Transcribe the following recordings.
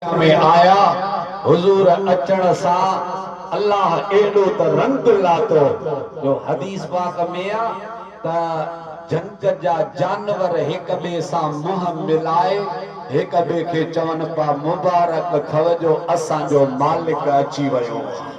۾ آيا، حضور اچڻ سان الله ايڏو ته رنگ لاتو جو حديث پاڪ ۾ آ ته جهنگ جا جانور هڪ ٻئي سان منهن ملائي هڪ ٻئي کي چون پيا مبارڪ ٿئو جو اسان جو مالڪ اچي ويو آ.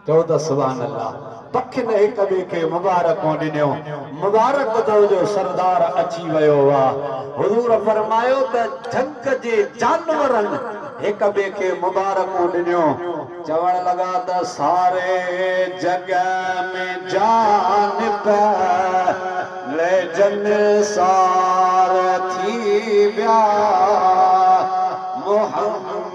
چئو ته سبحان الله پکين هڪ ٻئي کي مبارڪون ڏنيون مبارڪ اٿو جو سردار اچي ويو واه حضور فرمايو ته جهنگ جي جانورن هڪ ٻئي کي مبارڪون ڏنيون چوڻ لڳا ته ساري جڳ ۾ جان پئي ليجن سار ٿي ويا محمد